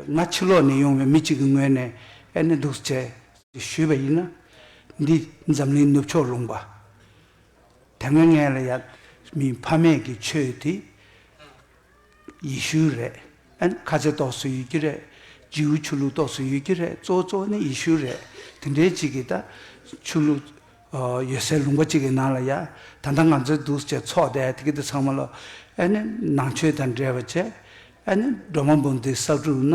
ང་ཕྱི་ལོགས་ནས་ཡོང་བའི་མི་གཅིག་གི་ངོས་ནས་ཨེ་ནི་འདུག་ཅེས་ཞུས་པ་ཡིན། འདི་འཛམ་གླིང་ནུབ་ཕྱོགས་ལུང་པ་དེ་སྔོན་ངའི་ལ་ཡབ་མི་ཕ་མེས་ཀྱི་ཆོས་དེ་ཡི་ཤུའི་རེད། ཨན་ཁ་ཚེ་ཏོག་སུ་ཡོད་ཀྱི་རེད། རྗེའུ་ཆུ་ལུག་ཏོག་སུ་ཡོད་ཀྱི་རེད་གཙོ་བོ་གཙོ་བོ་ནི་ཡི་ཤུ་རེད་དེ་འདྲའི་གཅིག་གིས་ད་ཆུ་ལུག། ཡོད་སའི་ལུང་པ་གཅིག་གི་ནང་ལ་ཡ། ད་ལྟ་ང་ཚོའི་འདུག་བྱེད་ཚོགས་དེ་དེ་གི་དེ་ཚང་མ་ལོ། ཨེ་ནི་ནང་ཆོས་དང་འབྲེལ་བ་ཆེ། ཨེ་ནི་སྒྲོལ་མ་འབུམ་སྡེའི་གསར་སྒྲུབ་ན།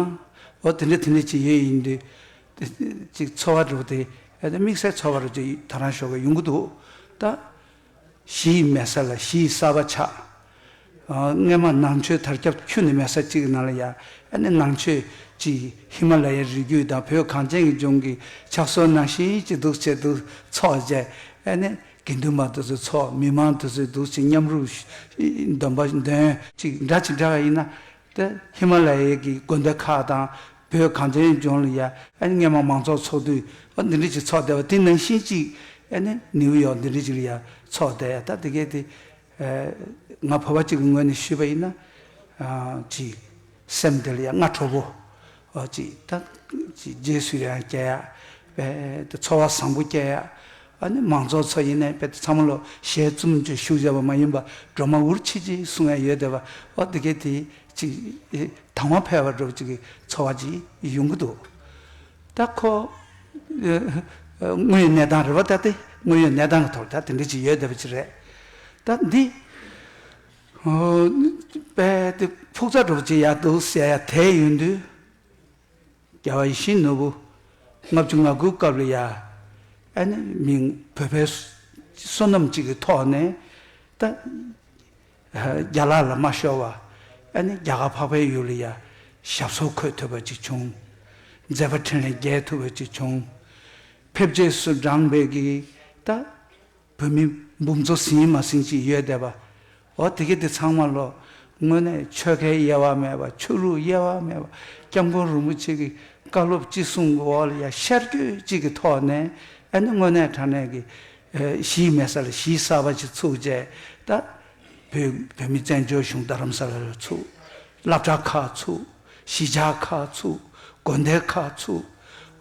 འོ་དེ་འདྲ་དེ་འདྲ་ཅིག་ཡོད་ཡིན་དུས། དེ་ཅིག་འཚོ་བ་རུ་དེ། ཨེ་ནི་དམིགས་བསལ་འཚོ་བ་རུ་ཅིག་ད་རང་ཤོག་གི་ཡོང་གི་འདུག་ད། གཞི་ཡི་མལ་ས་ལ་གཞི་ཡི་གསར་བ་ཆགས། སྔས་མ་ནང་ཆོས་དར་ཁྱབ་ཁྱོན་ནི་མལ་ས་གཅིག་གི་ནང་ལ་ཡང་ནས་ནང་ཆོས་ཀྱི་ཧི་མ་ལ་ཡའི་རི་རྒྱུད་དང་བོད་གངས་ཅན་གྱི་ལྗོངས་ཀྱི་ཕྱག་སོར་ནང་བཞིན་གྱི་གདུག་བྱེད་དུ་ཚོགས་བཅས་ཡང་ནས་དགེ་འདུན་པ་དུ་ཚོད་ཚོགས་མི་མང་དུ་ཚོད་གདུག་བྱེད་མཉམ་རུབ་འདོན་པ་འདོན། ཅིག་འདྲ་ཅིག་འདྲ་བ་ཡིན་ན། དེ་ཧི་མ་ལ་ཡའི་གི་དགོན་སྡེ་ཁག་དང་བོད་གངས་ཅན་ལྗོངས་ལ་ཡང་ནས་སྔས་མ་མང་ཚོགས་ཚོགས་དུས་འདི་འདྲ་ཅིག་ཚོགས་བསྡད་པ་དེ་ནང་བཞིན་གྱི་ཡང་ནས་ནིའུ་ཡོག་འདི་འདྲ་ཅིག་ལ་ཡང་ཚོགས་བསྡད་ཡ་ད་དེ་གས་དེ་ང་ཕོར་བ་གཅིག་གི་ངོས་ནས་ཞུས་པ་ཡིན་ན། ཅི། སེམས་འདི་ལ་ཡང་སྔ་དྲོ་བོ། ཅི། ད། ཅི། རྗེས་སུ་ཡང་སྐྱེ་ཡ། དཔལ། དུ་འཚོ་བ་བཟང་པོ་སྐྱེལ་ཡ། ཨ་ནི་མང་ཚོགས་ཚོ་ཡིན་ནའི་དཔལ་དུ་ཚང་མ་ལོ་ཞའི་བཙུན་མོ་ཆུ་ཤུགས་བཞག་པ་མ་ཡིན་པ་སྒྲོལ་མ་འུར་ཆིལ་ཆིལ་གསུང་ཡ་ཡོད་དེ་བ་འོ་འདི་གས་དེ། ཅི། དང་བ་འཕེལ་བར་འགྲོ་བ་ཅིག་གི་འཚོ་བ་ཅི། ཡོང་གི་འདུག། ད་ཁོ། དངོས་ཡོད་གནས་སྟངས་རེད་བ་ད་དེ་དངོས་ཡོད་གནས་སྟངས་ཀྱི་ཐོག་ད་དེ་འདྲི་ཅིག་ཡོད་བསྡད་པ་ཅིག་རེད། ད་འདི། དཔལ་དེ་ཕུགས་རྩ་གྲུབ་ཅིག་ཡག་འདུག་བཤད་ཡ་དེ་ཡོད་དུས། རྒྱལ་བ་ཡིད་བཞིན་ནོར་བུ། ལྔ་བཅུ་ང་དགུའི་སྐབས་ལ་ཡ། ཨ་ནི་མིང་བོད་པའི་བསོད་ནམས་ཅིག་གི་ཐོག་ནས་ད། རྒྱ་ལག་ལ་མ་ཤོར་བར་ཨ་ནི་རྒྱ་གར་འཕགས་པའི་ཡུལ་ལ་ཡང་ཞབས་སོར་འཁོད་ཐུབ་པ་ཅིག་བྱུང། མཛད་པ་འཕྲིན་ལས་རྒྱས་ཐུབ་པ་ཅིག་བྱུང། ཕེབས་རྗེས་སུ་འབྲང་བས་ཀྱི་ད་བོད་མི་འབུམ་ཚོ་ཟིན་མ་ཟིན་ཅིག་ཡོད་བསྡད་པ། འོ་དེ་གི་དེ་ཚང་མ་ལོ་དངོས་གནས་ཆོལ་ཁའི་དབྱེ་བ་མེད་པར་ཆོས་ལུགས་དབྱེ་བ་མེད་པར་སྐྱབས་མགོན་རིན་པོ་ཆེ་གི་བཀའ་སློབ་ཅི་གསུང་གི་འོག་ལ་ཡང་ཤར་སྐྱོད་ཅིག་གི་ཐོག་ནས་ཨ་ནི་དངོས་གནས་དྲང་གནས་ཀྱི་གཞིས་མེད་ས་ལ་གཞིས་གསར་པ་ཞིག་ཚུགས་རྗེས་ད་བོད་བོད་མི་བཙན་བྱོལ་གཞུང་རྡ་རམ་ས་ལ་རུ་ཚུགས། བླ་གྲྭ་ཁག་ཚུགས། གཞིས་ཆགས་ཁག་ཚུགས། དགོན་སྡེ་ཁག་ཚུགས།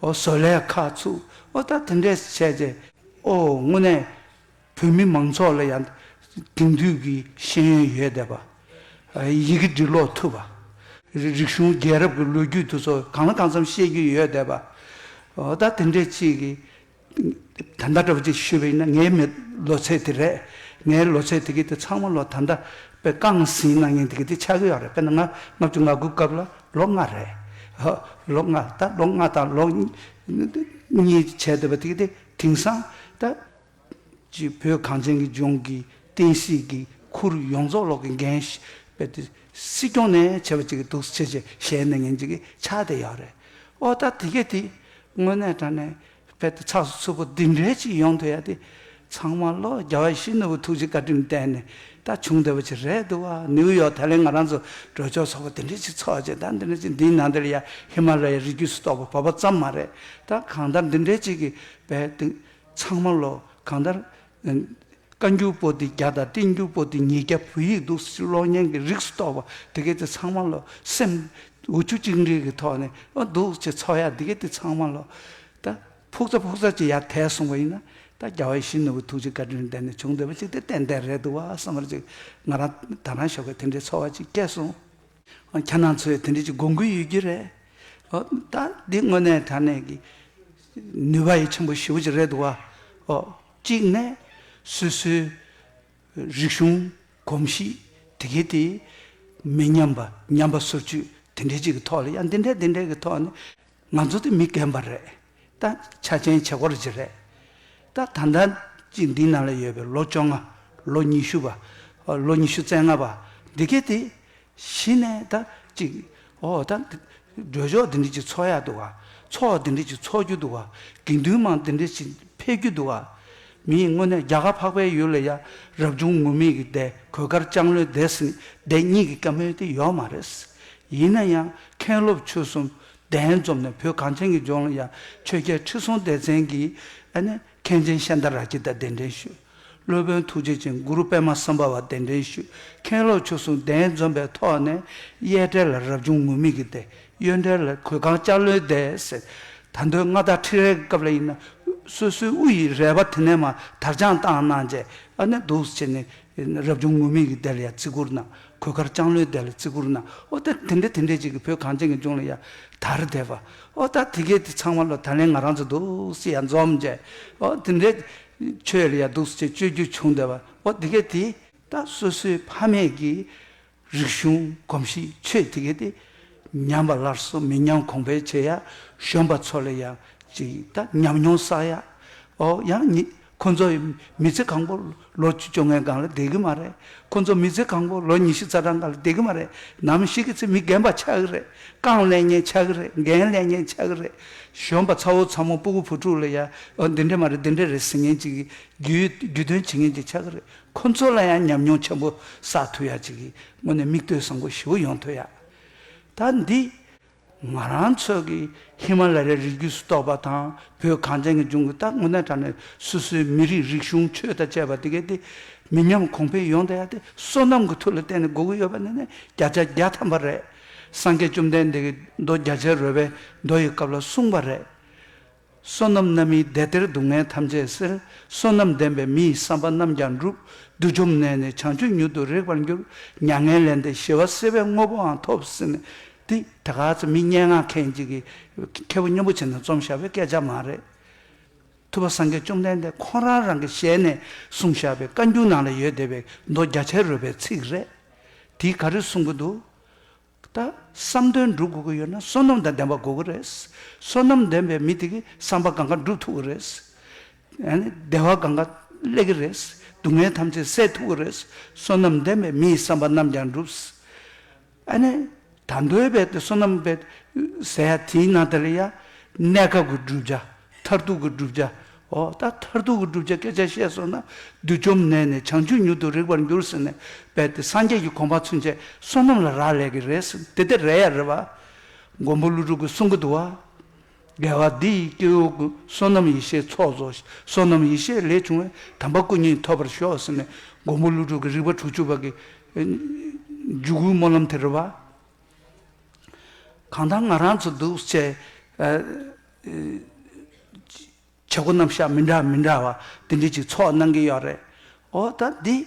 ཨོ་བཟོ་ལས་ཁག་ཚུགས། ཨོ་ད་དེ་འདྲས་བྱས་རྗེས་ཨོ་དངོས་གནས་བོད་མི་མང་ཚོགས་ལ་ཡང་དེང་དུས་ཀྱི་ཤེས་ཡོན་ཡོད་བསྡད་པ། ཡི་གེ་འབྲི་ཀློག་ཐུབ་པ། རིག་གཞུང་རྒྱལ་རབས་ཀྱི་ལོ་རྒྱུས་དུ་ཚོ་གང་ལ་གང་འཚམ་ཤེས་རྒྱུ་ཡོད་བསྡད་པ། ཨོ་ད་དེ་འདྲས་གཅིག་གིས་ད་ལྟ་འདྲ་བ་ཅིག་ཞུས་པ་ཡིན་ན་ངའི་མི་ལོ་ཚད་དེ་རེད། ངའི་ལོ་ཚད་དེ་གའི་དེ་ཚང་མ་ལོ་ད་ལྟ་དཔེ་རྐང་ཟིན་གནང་མཁན་དེ་གའི་དེ་ཆགས་ཀྱི་ཡོད་རེད་དཔེར་ན་ང་ལྔ་བཅུ་ང་དགུ་སྐབས་ལ་ལོ་ལྔ་རེད། ཧོ། ལོ་ལྔ་ད་ལོ་ལྔ་དང་ལོ་གཉིས་བྱས་འདུག་པ་དེ་གའི་དེ་དེང་སང་ད། ཅིག་བོད་གངས་ཅན་གྱི་ལྗོངས་ཀྱི་བསྟན་སྲིད་ཀྱི་ཁུར་ཡོངས་རྫོགས་ལོག་གི་འགན་བཞེས་པའི་དེ་སྲིད་སྐྱོང་ནས་བྱས་པ་ཅིག་གི་འདུག་ཆེ་ཆེ་ཞལ་གནང་མཁན་ཅིག་གི་ཆགས་དེ་ཡོད་རེད། ཨོ་ད་དེ་གའི་དེ་དངོས་གནས་དྲང་གནས་དཔལ་དུ་ཆགས་སུ་ཚུལ་པོ་འདི་འདྲའི་ཅིག་ཡོང་དུ་ཡ་དེ། ཚང་མ་བློ་རྒྱ་བ་ཤིས་ནོར་བུ་ཐུགས་རྗེ་བཀའ་དྲིན་བསྟན་ནས་ད་བྱུང་བདེ་བོ་ཆེ་རེད་འདུག་བ་ནིའུ་ཡོག་ཐའི་ལེན་ང་རང་ཚོ་གྲོས་ཆོག་ཚོགས་པ་འདི་འདྲའི་ཅིག་ཚོགས་རྗེས་ད་འདི་འདྲའི་ཅིག་འདིའི་ནང་འདིར་ཡ་ཧི་མ་ལ་ཡའི་རི་རྒྱུད་སུ་གཏོགས་པ་བབས་པ་ཙམ་མ་རེད་ད་གང་ལྟར་འདི་འདྲའི་ཅིག་གི་བས་འདུག་ཚང་མ་བློ་གང་ལྟར་བཀའ་འགྱུར་པོ་ཏི་བརྒྱ་དང་བསྟན་འགྱུར་པོ་ཏི་ཉིས་བརྒྱ་བོད་ཡིག་འདུག་ཕྱིར་གློག་བརྙན་གྱི་རིགས་སུ་གཏོགས་པ་འདི་གའི་དེ་ཚང་མ་ལོ་སེམས་འུ་ཆུ་གཅིག་འདྲིལ་གྱི་ཐོག་ནས་འདུག་ཕྱིར་ཚོགས་ཡག་འདི་གའི་དེ་ཚང་མ་ལོ། ད་ཕུག་ཚ་ཕུག་ཚ་ཅིག་ཡར་དལ་གསུངས་པ་ཡིན་ན། ད་རྒྱ་བོད་ཤིང་ནོར་བུའི་ཐུགས་རྗེ་བཀའ་དྲིན་ལྡན་ནས་བྱུང་འདོད་པ་ཅིག་དེ་ཏན་ཏན་རེད་འདུག་བསམ་པར་ཅིག་ང་རང་ད་རང་ཞོགས་ཀྱི་དེ་འདྲའི་ཚོར་བ་ཅིག་སྐྱེས་སོང། ཁྱེད་རང་ཚོས་དེ་འདྲའི་ཅིག་དགོས་མཁོ་ཡོད་རྒྱུ་རེད། ཨོ། ད་འདི་དངོས་གནས་དྲ་གནས་ཀྱི་ནུས་པ་ཡི་ཆེན་པོ་ཞེ་བོ་ཅིག་རེད་འདུག་བ། ཨོ། གཅིག་ནས། སོ་སོའི། རིག་གཞུང། གོམས་གཤིས། དེ་གའི་དེ། མི་ཉམས་པ། ཉམས་པ་སོར་བཅུད་དེ་འདྲའི་ཅིག་གི་ཐོག་ལ་ཡང་འདི་འདྲའི་འདི་འདྲའི་གི་ཐོག་ནས། ང་ཚོ་དེ་མི་རྒན་པ་རེད། ད་ཆ་ཆེན་བྱེད་སྒོར་གྱི་རེད། ད་ད་ལྟ་གཅིག་འདི་ན་ལ་ཡོད་པའི་ལོ་བཅོ་ལྔ། ལོ་ཉི་ཤུ་པ། ལོ་ཉི་ཤུ་རྩེ་ལྔ་པ་འདི་གས་དེ། གཞི་ནས་ད་གཅིག། ཨོ་ད། འགྲོས་ཕྱོགས་འདི་འདྲི་གཅིག་འཚོ་ཡ་འདུག་ཨ། འཚོ་བ་འདི་འདྲི་གཅིག་འཚོ་རྒྱུ་འདུག་ཨ། དགེ་འདུན་མང་འདི་འདྲི་གཅིག་འཕེལ་རྒྱུ་འདུག་ཨ། མི་ཡིན་དངོས་གནས་རྒྱ་གར་འཕགས་པའི་ཡུལ་ལ་ཡ་རབས་ཅུང་ངུ་མེད་ཀྱི་བསྡད་གོས་དཀར་ལྕང་ལོའི་བསྡད་སྲིད་བསྡད་གཉིས་ཀྱི་བཀའ་མོལ་དེ་ཡོག་མ་རེད། ཡིན་ན་ཡང་མཁན་སློབ་ཆོས་གསུམ་གདན་འཛོམས་ནས་བོད་གངས་ཅན་གྱི་ལྗོངས་ལ་ཡང་ཆོས་རྒྱལ་ཁྲི་སྲོང་ལྡེ་བཙན་གྱིས་མཁན་ཆེན་ཤཱནྟ་རཱ་ཀྱི་དང་གདན་འདྲེན་ཞུས། སློབ་དཔོན་ཐུགས་རྗེ་ཅན་གུ་རུ་པདྨ་སམ་བྷ་བ་གདན་འདྲེན་ཞུས་མཁན་སློབ་ཆོས་སྲུང་གདན་འཛོམས་པའི་ཐོག་ནས་གཡས་གྲལ་ལ་རབ་བྱུང་ངུར་སྨྲིག་གི་སྡེ་གཡོན་གྲལ་ལ་གོས་གང་ལྕགས་ལོའི་སྡེ་ཟེར། ད་མདོའི་མངའ་བདག་ཁྲི་རལ་གྱི་སྐབས་ལ་ཡིན་ན་སོ་སོའི་དབུ་ཡི་རལ་པ་དེ་ནས་མ་དར་སྦྱངས་བཏང་གནང་རྗེས་འདུག་ཟེར་ནས་རབ་བྱུང་ངུར་སྨྲིག་གི་སྡེ་ལ་ཡང་བརྩི་བཀུར་གནང། གོས་དཀར་ལྕང་ལོའི་སྡེ་ལ་བརྩི་བཀུར་གནང། ཨོ་ད་དེ་འདྲས་དེ་འདྲས་ཅིག་གིས་བོད་གངས་ཅན་གྱི་ལྗོངས་ལ་ཡ། དར་དེད་པ། ཨོ་ད་དེ་གས་དེ་ཚང་མ་ལོ་ད་ལན་ང་རང་ཚོ་འདུག་སི་ཡ་འཛོམས་མཇལ། ཨོ་དེ་འདྲས། ཆོས་ལ་ཡ་འདུག་སི་ཅེས་སྤྱོད་རྒྱུ་བྱུང་བསྡད་པ། ཨོ་དེ་གས་དེ། ད་སོ་སོའི་ཕ་མེས་ཀྱི། རིག་གཞུང་གོམས་གཤིས་ཆོས་དེ་གས་དེ། ཉམས་པ་སླར་གསོ་མི་ཉམས་གོང་འཕེལ་བྱེད་ཡ། གཞོན་པ་ཚོ་ལ་ཡ། ཅིག་ད་ཉམས་མྱོང་བསགས་ཡ། ཨོ་ཡང་ཉིད། ཁོ་ཚོ་མི་ཚེ་གང་པོ་ལོ་བཅུ་བཅོ་ལྔའི་སྒང་ལ་བསྡད་གི་མ་རེད། ཁོ་ཚོ་མི་ཚེ་གང་པོ་ལོ་ཉི་ཤུ་རྩ་གྲངས་སྒང་ལ་བསྡད་གི་མ་རེད། ནམ་ཞིག་གི་ཚེ་མི་རྒན་པ་ཆགས་གི་རེད། རྐང་ཀླད་ངན་ཆགས་གི་རེད་རྒན་ཀླད་ངན་ཆགས་གི་རེད། གཞོན་པ་ཚ་བོ་ཚ་མོ་སྤུ་གུ་བུ་ཕྲུག་ལ་ཡང་འདི་འདྲས་མ་རེད་འདི་འདྲས་རེད་ཟེར་མཁན་ཅིག་གི་རྒྱུས་དོན་བྱེད་མཁན་ཅིག་ཆགས་གི་རེད། ཁོ་ཚོ་ལ་ཡང་ཉམས་མྱོང་ཆེན་པོ་བསགས་ཐུབ་ཡག་ཅིག་གི་སྔོན་ནས་མིག་ལྟོས་བཟང་པོ་ཞིག་ཡོང་ཐུབ་ཡག། ད་འདི་ང་རང་ཚོ་གིས་ཧི་མ་ལ་ཡའི་རི་རྒྱུད་སུ་གཏོགས་པ་དང་བོད་གངས་ཅན་གྱི་ལྗོངས་ཀྱི་སྟག་སྨུག་ནས་དྲངས་ནས་སོ་སོའི་མི་རིགས་རིག་གཞུང་ཆོས་དང་བཅས་པ་དེ་གའི་སྟེ་མི་ཉམས་གོང་འཕེལ་ཡོང་ཐད་དེ་བསོད་ནམས་ཀྱི་མཐུ་ལ་བརྟེན་ནས་དགོས་ཀྱི་ཡོད་པ་ནི་ནི་བརྒྱ་ཆ་བརྒྱ་ཐམ་པ་རེད། སངས་རྒྱས་བཅོམ་ལྡན་འདས་ཀྱིས་མདོ་རྒྱ་ཆེར་རོལ་པའི་མདོ་ཡི་སྐབས་ལ་གསུངས་པ་རེད། བསོད་ནམས་རྣམ་སྨིན་བདེ་སྟེར་སྡུག་བསྔལ་ཐམས་ཅད་སེལ། བསོད་ནམས་ལྡན་པའི་མི་ཡི་བསམ་པ་རྣམས་ཀྱང་འགྲུབ། བདུད་འཇོམས་གནས་ནས་བྱང་ཆུབ་མྱུར་དུ་རེག་པར་འགྱུར། མྱ་ངན་ལས་འདས་ཞི་བ་སེལ་བའི་དངོས་པོའང་ཐོབ། ཏི། དེ་ག་ཚོད་མི་སྙན་ངག་མཁན་ཅིག་གིས། མཁས་པོ་སྙིང་པོ་ཆེ་ན་རྩོམ་བཞག་པའི་སྐད་ཆ་མ་རེད། ཐུབ་པ་སངས་རྒྱས་བཅོམ་ལྡན་འདས་ཁོང་རང་རང་གི་ཞལ་ནས་གསུངས་བཞག་པའི་བཀའ་འགྱུར་ནང་ལ་ཡོད་བསྡད་པའི་མདོ་རྒྱ་ཆེར་རོལ་པའི་ཚིག་རེད། དེའི་ག་རེ་གསུང་གི་འདུག། ད་བསམ་དོན་འགྲུབ་དགོས་ཀྱི་ཡོད་ན་བསོད་ནམས་དང་ལྡན་པ་དགོས་ཀྱི་རེད། བསོད་ནམས་ལྡན་པའི་མི་དེ་གི་བསམ་པ་གང་ག་འགྲུབ་ཐུབ་ཀྱི་རེད། བདེ་བ་གང་ག་སླེབས་ཀྱི་རེད། སྡུག་བསྔལ་ཐམས་ཅད་སེལ་ཐུབ་ཀྱི་རེད། བསོད་ནམས་ལྡན་པའི་མིའི་བསམ་པ་ནམས་ཀྱང་འགྲུབ། ཨ་ནི། ད་འདོད་པའི་བསོད་ནམས་པའི་ཟེར་ཡ་དེའི་ནང་དེ་ལ་ཡ་གནས་སྐབས་ཀྱི་བསྒྲུབ་བྱ། མཐར་ཐུག་གི་བསྒྲུབ་བྱ། འོ་ད་མཐར་ཐུག་གི་བསྒྲུབ་བྱ་སྐད་ཆ་བཤད་སོང་ན་བདུད་བཅོམ་ནད་ནས་བྱང་ཆུབ་མྱུར་དུ་རེག་པར་འགྱུར་ཟེར་ནས་སྦས་ཏེ་སངས་རྒྱས་ཀྱི་གོ་འཕང་ཚུན་ཆད་བསོད་ནམས་ལ་རག་ལས་ཀྱི་རེད་ཟེར་དེ་དེ་རེད་ཡ་རེད་བ། མགོན་པོ་ཀླུ་སྒྲུབ་ཀྱི་གསུང་གི་དུ་བ། རྒྱལ་བ་འདི་ཡི་སྐྱེ་བོ་ཀུན་བསོད་ནམས་ཡེ་ཤེས་ཚོགས་རྫོགས་ཤིག་བསོད་ནམས་ཡེ་ཤེས་ལས་བྱུང་བའི་དམ་པ་སྐུ་གཉིས་ཐོབ་པར་ཤོག་ཟེར་ནས་མགོན་པོ་ཀླུ་སྒྲུབ་ཀྱི་རིག་པ་དྲུག་ཅུ་བ་གི་འཇུག་སྒོའི་སྨོན་ལམ་དེ་རེད་བ། གང་ལྟར་ང་རང་ཚོ་འདུག་བྱས། བྱེད་སྒོ་རྣམ་གཞག་མི་འདྲ་མི་འདྲ་བ་དེ་འདྲའི་ཅིག་ཚོགས་གནང་གི་ཡོད་རེད། འོ་ད་འདི།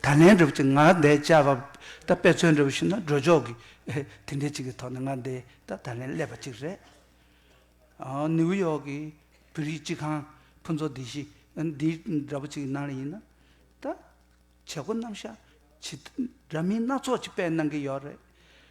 ད་ལན་འགྲུབ་ཅིག་ང་འདའི་བཅའ་བ་ད་དཔེ་མཚོན་འགྲུབ་ཤེས་ན་འགྲོ་ཆོག་གི། དེ་འདྲའི་ཅིག་གི་ཐོག་ནས་ང་འདའི་ད་ད་ལན་སླེབས་པ་ཅིག་རེད། ནིའུ་ཡོག་གི་བོད་རིགས་སྤྱི་ཁང་ཕུན་ཚོགས་སྡེ་བཞི་འདི་འདྲ་བོ་ཅིག་གི་ནང་ལ་ཡིན་ན། ད། བྱེད་སྒོ་རྣམ་གཞག་བྱེད་དུས་འདྲ་མིན་སྣ་ཚོགས་ཀྱི་དཔེ་གནང་གི་ཡོད་རེད།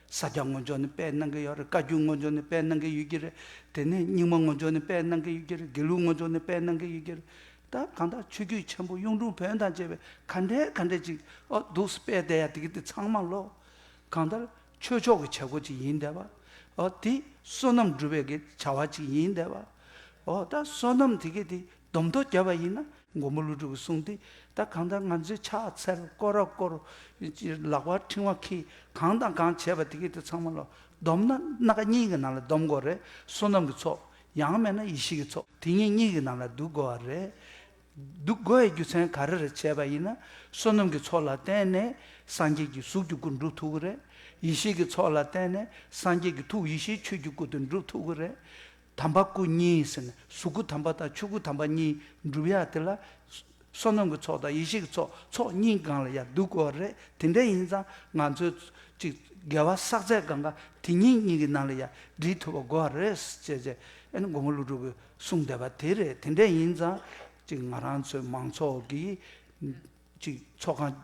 ས་རྒྱ་སྔོན་འཇོག་ནས་དཔེ་གནང་གི་ཡོད་རེད་བཀའ་རྒྱུད་སྔོན་འཇོག་ནས་དཔེ་གནང་གི་ཡོད་ཀྱི་རེད། དེ་ནས་རྙིང་མ་སྔོན་འཇོག་ནས་དཔེ་གནང་གི་ཡོད་ཀྱི་རེད་དགེ་ལུགས་སྔོན་འཇོག་ནས་དཔེ་གནང་གི་ཡོད་ཀྱི་རེད། ད་གང་དག་ཆོས་བརྒྱུད་ཆེན་པོ་གཡུང་དྲུང་བོན་དང་བཅས་པའི་ག་འདྲའི་ག་འདྲའི་ཅིག་ཨོ་འདུག་སི་དཔེ་བལྟས་ཡ་དེ་གི་དེ་ཚང་མ་ལོག། གང་ལྟར་ཆོས་ཕྱོགས་ཀྱི་བྱེད་སྒོ་ཅིག་ཡིན་བསྡད་པ། ཨོ་དེ་བསོད་ནམས་སྒྲུབ་པའི་གི་བྱ་བ་ཅིག་ཡིན་བསྡད་པ། ཨོ་ད་བསོད་ནམས་དེ་གི་དེ་སྡོམ་ཐོ་བརྒྱབ་པ་ཡིན་ན། མགོན་པོ་ཀླུ་སྒྲུབ་ཀྱིས་གསུངས་དེ་ལྟར་གང་ལྟར་ང་ཚོས་ཕྱག་འཚལ་བསྐོར་ར་བསྐོར། ལག་པ་ཕྲེང་བ་འཁྱིལ་གང་དང་གང་བྱས་པ་དེ་གས་དེ་ཚང་མ་ལོ། སྡོམ་ན་སྣ་ཁ་གཉིས་ཀྱི་ནང་ལ་སྡོམ་དགོས་རེད། བསོད་ནམས་ཀྱི་ཚོགས། ཡང་མེད་ན་ཡེ་ཤེས་ཀྱི་ཚོགས་དེ་གཉིས་གཉིས་ཀྱི་ནང་ལ་འདུག་དགོས་བ་རེད། འདུག་དགོས་བའི་རྒྱུ་ཚན་ག་རེ་རེད་བྱས་པ་ཡིན་ན། བསོད་ནམས་ཀྱི་ཚོགས་ལ་བརྟེན་ནས་སངས་རྒྱས་ཀྱི་གཟུགས་ཀྱི་སྐུ་འགྲུབ་ཐུབ་ཀྱི་རེད། ཡེ་ཤེས་ཀྱི་ཚོགས་ལ་བརྟེན་ནས་སངས་རྒྱས་ཀྱི་ཐུགས་ཡེ་ཤེས་ཆོས་ཀྱི་སྐུ་དེ་འགྲུབ་ཐུབ་ཀྱི་རེད། དམ་པ་སྐུ་གཉིས་ཟེར་ནས་གཟུགས་སྐུ་དམ་པ་དང་ཆོས་སྐུ་དམ་པ་གཉིས་འགྲུབ་ཡ་དེ་ལ། བསོད་ནམས་ཀྱི་ཚོགས་དང་ཡེ་ཤེས་ཀྱི་ཚོགས་ཚོགས་གཉིས་སྒང་ལ་ཡ་འདུག་དགོས་བ་རེད་དེ་འདྲ་ཡིན་ཙང་ང་ཚོའི་ཅིག་དགེ་བ་བསགས་ཚད་སྒང་ཀ་དེ་གཉིས་གཉིས་ཀྱི་ནང་ལ་ཡ་འདྲིས་ཐུབ་པ་དགོས་བ་རེད་ཅེས་ཅེས་ཨེ་ནི་མགོན་པོ་ཀླུ་སྒྲུབ་ཀྱིས་གསུངས་བསྡད་པ་དེ་རེད་དེ་འདྲ་ཡིན་ཙང་ཅིག་ང་རང་ཚོའི་མང་ཚོགས་ཀྱིས། ཅིག་ཚོགས་ཁང་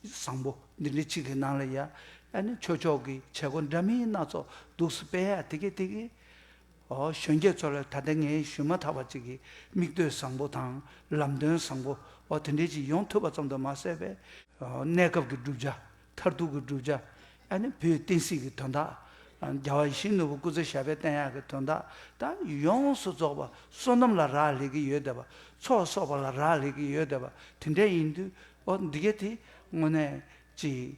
བཟང་པོ་འདི་འདྲའི་ཅིག་གི་ནང་ལ་ཡ་ཨ་ནི་ཆོས་ཕྱོགས་ཀྱི་བྱེད་སྒོ་འདྲ་མིན་སྣ་ཚོགས་འདུག་སི་པེ་ཡ་དེ་གས་དེ་གས། ཨོ་གཞོན་སྐྱེས་ཚོ་ལ་ད་ལྟ་ངས་ཞུས་མ་ཐག་པ་ཅིག་གི་མིག་ལྟོས་བཟང་པོ་དང་ལམ་སྟོན་བཟང་པོ་འོ་དེ་འདྲའི་ཅིག་ཡོང་ཐུབ་པ་ཙམ་དུ་མ་ཟད་པའི། གནས་སྐབས་ཀྱི་བསྒྲུབ་བྱ་མཐར་ཐུག་གི་བསྒྲུབ་བྱ་ཨ་ནི་བུའི་བསྟན་སྲིད་ཀྱི་དོན་དག། རྒྱལ་བ་ཡིད་བཞིན་ནོར་བུ་སྐུ་ཚེ་ཞབས་པད་བསྟན་ཡག་གི་དོན་དག་དང་ཡོངས་སུ་རྫོགས་པ་བསོད་ནམས་ལ་རག་ལས་ཀྱི་ཡོད་དད་པ་ཚོགས་གསོག་པ་ལ་རག་ལས་ཀྱི་ཡོད་དད་པ་དེ་འདྲ་ཡིན་དུས་འོ་འདི་ག་དེ་དངོས་གནས་ཀྱིས་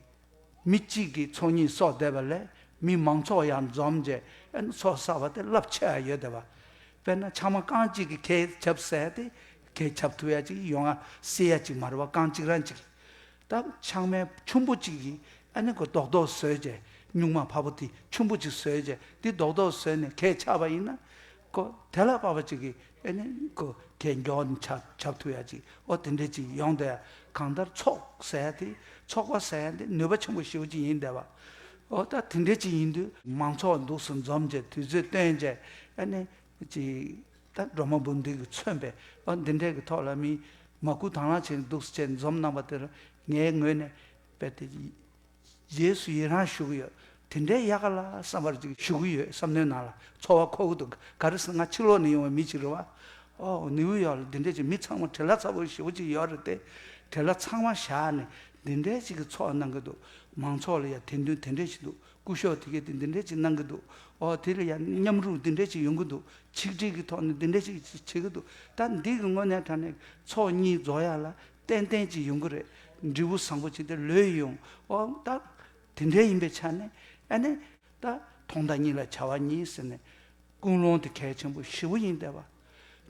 མི་གཅིག་གིས་ཚོགས་གཉིས་གསོག་བསྡད་པ་ལས་མི་མང་ཚོགས་ཡར་འཛོམས་རྗེས་ཨ་ནི་ཚོགས་བསགས་པ་དེ་རླབས་ཆེ་བ་ཡོད་དད་པ། དཔེར་ན་ཕྱགས་མ་རྐང་གཅིག་གིས་གས་ཆབ་བསལ་ཏེ་གས་ཆབ་ཐུབ་ཡ་གཅིག་ཡོང་ང་སྲིད་ཡ་གཅིག་མ་རེད་བ་རྐང་གཅིག་རང་གཅིག་གིས་སྟབས་ཆང་མའི་ཆུན་པོ་གཅིག་གིས་ཨ་ནེ་ཁོ་རྡོག་རྡོག་ཟོས་རྗེས་སྨྱུག་མ་བབ་པོ་དེ་ཆུན་པོ་གཅིག་ཟོས་རྗེས་དེ་རྡོག་རྡོག་ཟོས་ནས་གས་ཆག་པ་ཡིན་ན། ཁོ་དེ་ལ་བབ་པ་གཅིག་གིས་ཨེ་ནེ་ཁོ་གས་མགྱོགས་ཆག་ཆག་ཐུབ་ཡ་གཅིག་ཨོ་དེ་འདྲས་ཅིག་ཡོང་སྡད་གང་ལྟར་ཚོགས་ཟས་དེ་ཚོགས་པ་ཟས་འདི་ནུས་པ་ཆེན་པོ་ཞིག་ཡིན་སྡད་པ། ཨོ་ད་དེ་འདྲས་ཅིག་ཡིན་དུས། མང་ཚོགས་འདུག་སུ་འཛོམས་རྗེས་དུས་ཚོད་སྟོན་རྗེས་ཨེ་ནེ་ཅིག། སྒྲོལ་མ་འབུམ་སྡེ་གིས་མཚོན་པའི་དཔང་འདི་འབྲས་ཀྱི་ཐོག་ལ་མིའི་མ་སྐུལ་དྭངས་བླངས་བྱས་འདུག་ཅེས་འཛོམས་གནང་པ་དེར་ངའི་ངོས་ནས་དཔེར་ཏེ། རྗེས་སུ་ཡི་རངས་ཞུ་གི་ཡོད། དེ་འདྲའི་ཡ་ག་ལ་བསམ་པར་ཅིག་ཞུ་གི་ཡོད་བསམ་མནོའི་ནང་ལ་འཚོ་བ་ཁོ་བོ་དུ་ག་རེ་ཟེར་ང་ཕྱི་ལོགས་ནས་ཡོང་བའི་མི་ཅིག་རེད་བ། ཨོ། ནིའུ་ཡོག་ལ་འདི་འདྲའི་ཅིག་མི་ཚང་མ་བྲེལ་ལྷ་ཚ་བོ་ཞེ་བོ་ཅིག་ཡོད་རེད་དེ། བྲེལ་ལྷ་ཚང་མ་བཞག་ནས་འདི་འདྲའི་ཅིག་གི་འཚོ་བ་གནང་གི་འདུག་མང་ཚོགས་ལ་ཡང་དད་འདུན་དེ་འདྲའི་ཞིག་འདུག་སྐུ་ཞོགས་དེ་གས་དེ་འདི་འདྲས་ཅིག་གནང་གི་འདུག་ཨོ་དེ་ལ་ཡང་མཉམ་རུབ་འདི་འདྲས་ཅིག་ཡོང་གི་འདུག་ཆིག་སྒྲིལ་གི་ཐོག་ནས་འདི་འདྲས་ཅིག་བྱེད་ཀྱི་འདུག་ད་འདི་གི་དངོས་གནས་དྲ་གནས་ཚོགས་གཉིས་རྫོགས་ཡག་ལ་ཏན་ཏན་ཅིག་ཡོང་གི་རེད་འབྲས་བུ་བཟང་པོ་བྱས་ཏེ་ལོས་ཡོང་ཨོ་ད་དེ་འདྲས་ཡིན་པའི་ཆ་ནས་ཨ་ནི། ད་ཐོག་མདའ་གཉིས་ལ་བྱ་བ་གཉིས་ཟེར་ནས་ཀུན་སློང་དེ་གལ་ཆེན་པོ་བཞི་བོ་ཡིན་བསྡད་པ།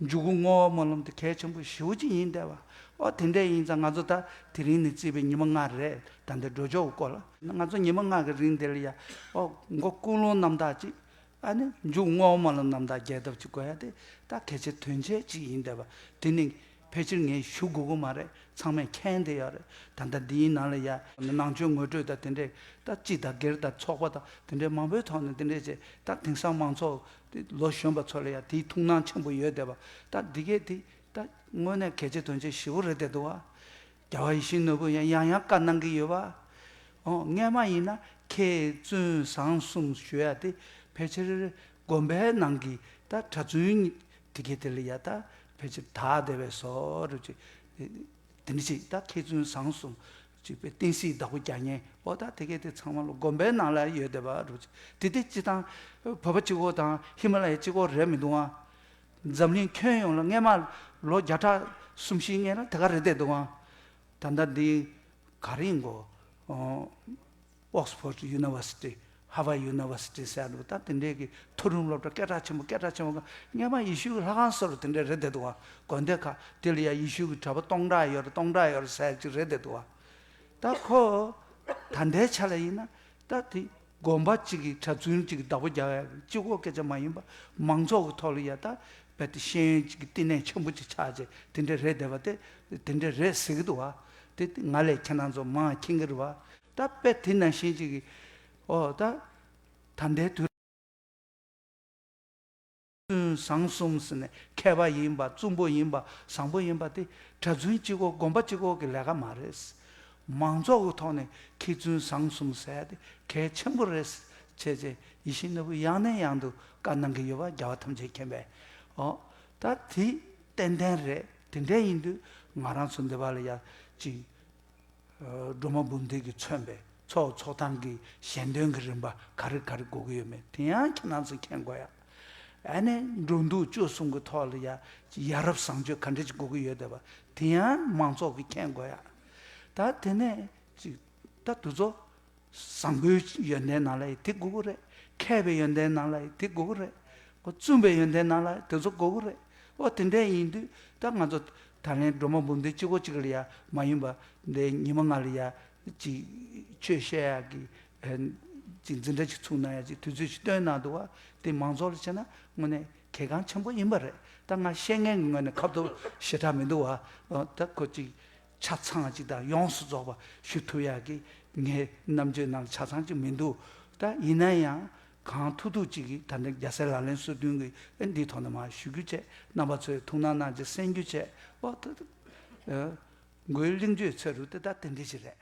འཇུག་སྒོ་བསྔོ་བ་སྨོན་ལམ་དེ་གལ་ཆེན་པོ་བཞི་བོ་གཅིག་ཡིན་འདས་པ། ཨོ་དེ་འདྲས་ཡིན་ཙང་ང་ཚོ་ད་དེ་རིང་ནས་བརྩིས་པའི་ཉི་མ་ལྔ་རེད་ད་འདི་འགྲོ་ཆོག་གོ་ལ། ང་ཚོ་ཉི་མ་ལྔ་གི་རིང་འདིར་ཡ་ཨོ་མགོ་བསྐུར་ལུང་རྣམ་དག་ཅིག་ཨ་ནི་འཇུག་བསྔོ་བ་སྨོན་ལམ་རྣམ་དག་རྒྱས་གདབ་ཅིག་དགོས་ཡ་དེ་ད་གལ་ཆེ་དོན་ཆེན་ཅིག་ཡིན་འདས་པ་དེ་ནི། ཕལ་ཆེར་ངས་ཞུ་དགོས་དགོས་མ་རེད་ཚང་མས་མཁྱེན་དེ་ཡག་རེད་ད་ལྟ་འདིའི་ནང་ལ་ཡ་ནང་ཆོས་ངོས་སྤྲོད་དང་དེ་འདྲས་ད་སྤྱི་དང་སྒེར་དང་ཚོགས་པ་དང་དེ་འདྲས་མང་པོའི་ཐོག་ནས་དེ་འདྲས་བྱས་ད་དེང་སང་མང་ཚོགས་དེ་ལོ་གཞོན་པ་ཚོ་ལ་ཡ་དེའི་ཐུགས་སྣང་ཆེན་པོ་ཡོད་བསྡད་པ་ད་འདི་གས་དེ་ད་དངོས་གནས་གལ་ཆེ་དོན་ཆེ་ཞི་བོ་རེད་བསྡད་འདུག་བ། རྒྱལ་བ་ཡིད་བཞིན་ནོར་བུས་ཡང་ཡང་ཡང་བཀའ་གནང་གི་ཡོད་བ། ཨོ་ངས་མ་ཡིན་ན་ཁྱེད་བཙུན་བཟང་གསུམ་ཞུ་ཡ་དེ་ཕལ་ཆེར་དགོན་པའི་ནང་གི་ད་གྲྭ་བཙུན་གཉིས་དེ་གས་དེ་ལ་ཡ་ད་ཕལ་ཆེར་དག་བདེ་བས་སོ་རུ་ཅིག། དེ་འདྲ་ཞིག་ད་ཁྱེད་བཙུན་བཟང་གསུང། ཅིག་པའི་བསྟན་སྲིད་བདག་པོ་གྱ་ངན་འོ་ད་དེ་གས་དེ་ཚང་མ་ལ་དགོན་པའི་ནང་ལ་ཡོད་བདེ་བ་རུ་ཅིག་དེ་དེ་སྤྱི་དང། བོད་པ་སྤྱི་གོ་དང་ཧི་མ་ལ་ཡའི་སྤྱི་གོ་རེད་མི་འདུག་ཨང། འཛམ་གླིང་ཁྱོན་ཡོངས་ལ་སྔས་མ་ལོ་བརྒྱ་ཕྲག་གསུམ་བཞི་ལྔས་ལ་དེ་ག་རེད་བསྡད་འདུག་ཨང། ད་ལྟ་འདི་ག་རིང་གོ། Oxford University། Harvard University སེ་ལུ་དང་དེ་འབྲེལ་གྱི་མཐོ་རིམ་སློབ་གྲྭ་སྐད་གྲགས་ཆེན་པོ་སྐད་གྲགས་ཆེན་པོ་ཁག་སྙེ་མ་ཡེ་ཤུ་གི་ལྷ་ཁང་སོགས་རེ་དེ་འདྲ་རེ་དེ་དུ་བ་དགོན་སྡེ་ཁག་དེ་ལ་ཡང་ཡེ་ཤུ་གི་གྲྭ་པ་སྟོང་ཕྲག་ཡོད་རེ་སྟོང་ཕྲག་ཡོད་རེ་ཟེར་ཅིག་རེ་དེ་དུ་བ། ད་ཁོ། ད་ལྟའི་ཆ་ལ་ཡིན་ན། ད་དེ་དགོན་པ་གཅིག་གི་གྲྭ་བཙུན་གཅིག་གི་བདག་པོ་རྒྱག་ཡ་གི་སྤྱི་ཁོག་སྐད་ཆ་མ་ཡིན་པ་མང་ཚོགས་ཀྱི་ཐོག་ལ་ཡ་ད་བལ་ཏེ་ཤེས་ཡོན་གཅིག་གི་བསྟི་གནས་ཆེན་པོ་གཅིག་ཆགས་ཅིག་དེ་འདྲ་རེ་དེ་བ་དེ་དེ་འདྲ་རེ་ཟེར་གི་དུ་བ། དེ་ང་ལས་ཁྱེད་རང་ཚོ་མང་ཁྱེད་ཀྱི་རེ་བ། ད་དཔེ་དེ་ནས་བྱིན་ཅིག། ཨོ། ད་ལྟའི་དུས། བཟང་གསུམ་ཟེར་ནས་མཁས་པ་ཡིན་པ་བཙུན་པོ་ཡིན་པ་བཟང་པོ་ཡིན་པ་དེ་གྲྭ་བཙུན་གཅིག་གོ་དགོན་པ་གཅིག་གོ་གི་ལས་ཀ་མ་རེད། མང་ཚོགས་ཀྱི་ཐོག་ནས་མཁས་བཙུན་བཟང་གསུམ་ཟས་དེ་གལ་ཆེན་པོ་རེད། བྱས་རྗེས་ཡིད་བཞིན་ནོར་བུ་ཡང་ནས་ཡང་དུ་བཀའ་གནང་གི་ཡོད་པ་རྒྱལ་བ་ཐམས་ཅད་མཁྱེན་པས། ཨོ། ད་དེ་ཏན་ཏན་རེད་དེ་འདྲས་ཡིན་དུས་ང་རང་ཚོ་འདི་བ་ལ་ཡར་བཅིངས། སྒྲོལ་མ་འབུམ་སྡེ་གིས་མཚོན་པའི་མཚོ་ཚོགས་ཐང་གི་གཞན་དོན་གྱི་རིམ་པ་ག་རེ་ག་རེ་གོ་གི་ཡོད་མེད་དེ་ཡང་ཁྱེད་རྣམས་སུ་མཁྱེན་དགོས་ཡ། ཨ་ནེ་འགྲོ་འདུག་སྤྱོད་གསུམ་གྱི་ཐོག་ལ་ཡ། ཡ་རབས་བཟང་སྤྱོད་ག་འདྲ་ཅིག་གོ་གི་ཡོད་དེ་བ་དེ་ཡང་མང་ཚོགས་ཀྱིས་མཁྱེན་དགོས་ཡ། ད་དེ་ནས་ཅིག་ད་དུ་ཚོ། བཟང་པོའི་ཡོན་ཏན་རྣམས་ལ་ཡི་དེ་དགོས་གོ་རེད། མཁས་པའི་ཡོན་ཏན་རྣམས་ལ་ཡི་དེ་དགོས་གོ་རེད། བཙུན་པའི་ཡོན་ཏན་རྣམས་ལ་དེ་ཚོ་དགོས་གོ་རེད། ཨོ་དེ་འདྲས་ཡིན་དུས་ད་ང་ཚོ་ད་ལན་སྒྲོལ་མ་འབུམ་སྡེ་གཅིག་གོ་གཅིག་ལ་ཡང་མ་ཡིན་པ་འདས་ཉི་མ་ལྔ་ལ་ཡང་ཅིག་ཆོས་བཤད་ཡག་གི་ཅིག་འཛིན་གྲྭ་ཅིག་ཚུགས་གནང་ཡག་ཅིག་དུས་ཚོད་ཅིག་བཏོན་གནང་འདུག་བ་དེ་མང་ཚོགས་ལ་བྱས་ན་དངོས་ནས་གལ་འགངས་ཆེན་པོ་ཡིན་པ་རེད་ད་ང་བཤད་ངན་གི་ངོས་ནས་ཁབ་ཐོབ་ཞེ་དྲག་མི་འདུག་བ་ད་ཁོ་ཅིག་ཆ་ཚང་གཅིག་དང་ཡོངས་སུ་རྫོགས་པ་ཞུ་ཐུབ་ཡག་གི་ངའི་རྣམ་དཔྱོད་ནང་ཆ་ཚང་གཅིག་མི་འདུག་ད་ཡིན་ན་ཡང་གང་ཐུག་ཐུག་ཅིག་གིས་ད་ནི་རྒྱ་སེ་ལ་ལན་སོ་བདུན་གི་འདིའི་ཐོག་ནས་མ་ཞུ་རྒྱུ་བཅས་རྣམ་པ་ཚོའི་ཐུགས་སྣང་གནང་རྗེས་གསན་རྒྱུ་བཅས་འོ་ད་ད། མགོའི་གླིང་བརྗོད་ཚོད་རུ་དེ་ད་དེ་འདྲས་ཅིག་རེད།